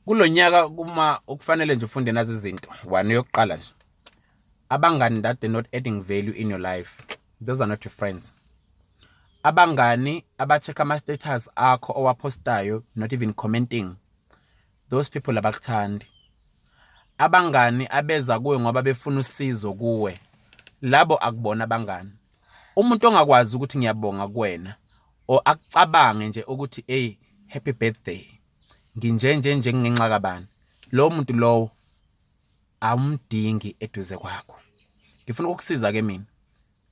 kulo nyaka uma ukufanele nje ufunde nazi izinto one yokuqala nje abangani that they're not adding value in your life those are not your friends abangani abacheck ama-status akho owaphostayo not even commenting those people abakuthandi abangani abeza kuwe ngoba befuna usizo kuwe labo akubona abangani Umuntu ongakwazi ukuthi ngiyabonga kuwena or akucabange nje ukuthi hey happy birthday nginje nje nje ngenxa kabani lowo muntu lowo awumdingi eduze kwakho ngifuna ukukusiza ke mina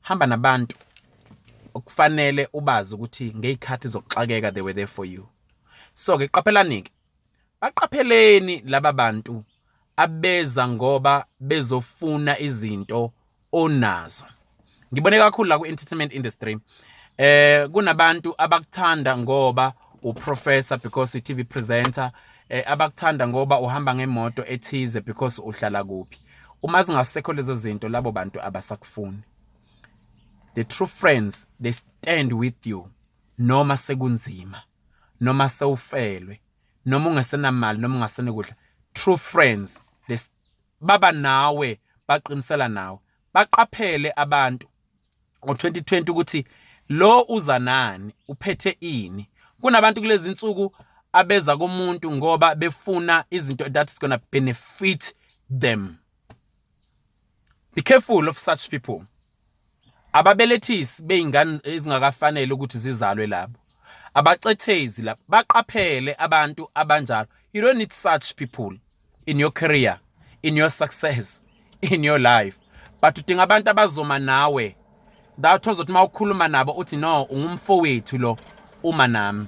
hamba nabantu okufanele ubazi ukuthi ngeyikhathi zokuxakeka they were there for you so ke qaphelani ke Baqapheleni laba bantu abeza ngoba bezofuna izinto onazo. Ngibone kakhulu la ku-entertainment industry eh kunabantu abakuthanda ngoba uprofessor because uTV presenter eh abakuthanda ngoba uhamba ngemoto ethize because uhlala kuphi. Uma zingasekho lezo zinto labo bantu abasakufuni. The true friends they stand with you noma sekunzima. noma sewufelwe noma ungasenamali noma ungasenokudla true friends this baba nawe baqinisela nawe baqaphele abantu ngo-2020 ukuthi lo uza nani uphethe ini kunabantu kulezi nsuku abeza kumuntu ngoba befuna izinto that is gonna benefit them be careful of such people Ababelethisi bey'ngane ezingakafanele ukuthi zizalwe labo. Abacethezi labo. Baqaphele abantu abanjalo. You don't need such people in your career, in your success, in your life. But udinga abantu abazoma nawe. That ozothi uma ukhuluma nabo uthi no ungumfowethu lo uma nami.